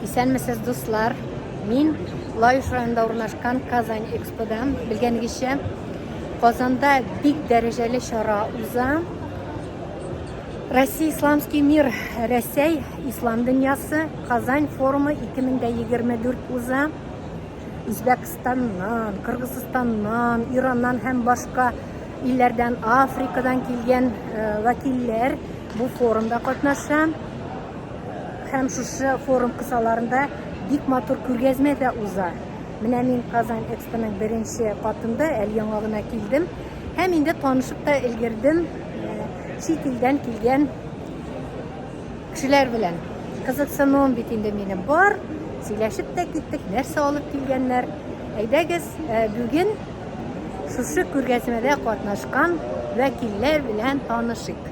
Исәнмесез, дуслар! Мин Лаеш районында урнашкан Казань Экспода. Белгәнегезчә, Казанда бик дәрәҗәле чара уза. Россия Исламский мир, Рәсәй Ислам дөньясы Казань форумы 2024 уза. Үзбәкстаннан, Кыргызстаннан, Ираннан һәм башка илләрдән, Африкадан килгән э, вәкилләр бу форумда катнаша. Һәм шушы форум кысаларында бик матур күргәзмә дә уза. Менә мин Казан Экспоның беренче катында әле яңа гына килдем. Һәм инде танышып та өлгердем чит илдән килгән кешеләр белән. Кызыксынуым бит инде минем бар. Сөйләшеп тә киттек, нәрсә алып килгәннәр. Әйдәгез, бүген шушы күргәзмәдә катнашкан вәкилләр белән танышыйк.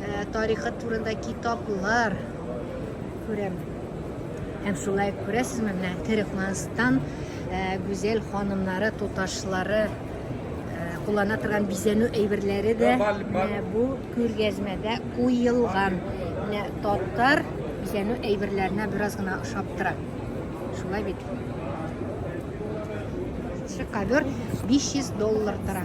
Ә, тарихы турында китаплар күрәм. Һәм шулай күрәсезме, менә Төрекманстан ә, гүзәл ханымнары, туташлары ә, куллана торган бизәнү әйберләре дә менә бу күргәзмәдә куелган. Менә татар бизәнү әйберләренә бераз гына ошап тора. Шулай бит. Шикавер 500 доллар тора.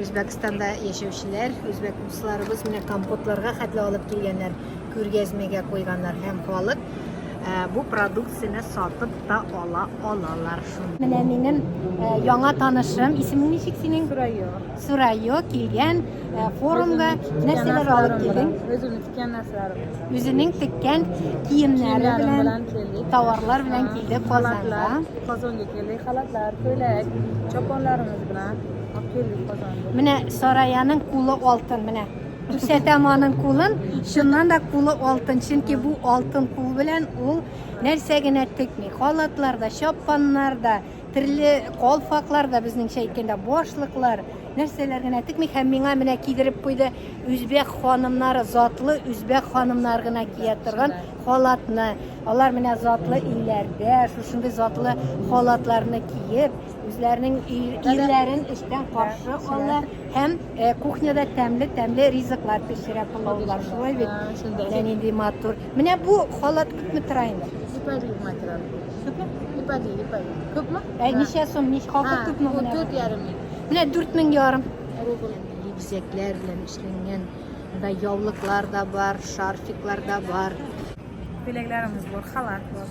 Үзбәкстанда яшәүчеләр, үзбәк дусларыбыз менә компотларга хәтле алып килгәннәр, күргәзмәгә куйганнар һәм халык э, бу продукцияне сатып та ала алалар шуны. Менә минем э, яңа танышым, исемең ничек синең? Сурайо. Сурайо килгән э, форумга нәрсәләр алып килдең? Үземнең тиккән нәрсәләрем. Үзенең теккән киемнәре белән, товарлар белән килде Казанга. Казанга килде халатлар, күләк, чапанларыбыз белән. Менә Сараяның кулы алтын, менә. Күрсәтәм аның кулын, шуннан да кулы алтын, чөнки бу алтын кул белән ул нәрсә генә текми. Халатлар да, чапаннар да, төрле калфаклар да, безнеңчә әйткәндә, башлыклар, нәрсәләр генә текми һәм миңа менә кидереп куйды үзбәк ханымнары затлы үзбәк ханымнар гына кия торган халатны алар менә затлы илләрдә шушындый затлы халатларны киеп Үзләренең ирләрен эштән каршы ала һәм э, кухняда тәмле-тәмле ризыклар пешерә пылаулар. Шулай бит? Менә нинди матур. Менә бу халат күпме тора инде? Ипәли материал. Күпме? Ипәли, ипәли. Күпме? Ә ничә сум? Ничә хакы күпме менә? Дүрт ярым. Менә 4 мең ярым. Бизәкләр белән эшләнгән. Монда яулыклар да бар, шарфиклар да бар. Теләкләрегез булыр, халат булыр.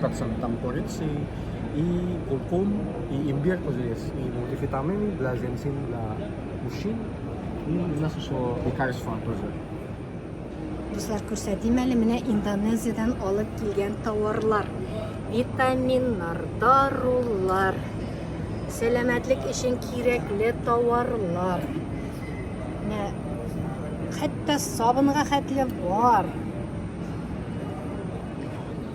Тотсам там корици и куркум, и имбир тоже есть, и мультивитамины для женщин, для мужчин, и у нас еще лекарства тоже. Дуслар, күрсәтим әле менә Индонезиядән алып килгән тауарлар. Витаминнар, дарулар, сәламәтлек өчен кирәкле тауарлар. Менә хәтта сабынга хәтле бар.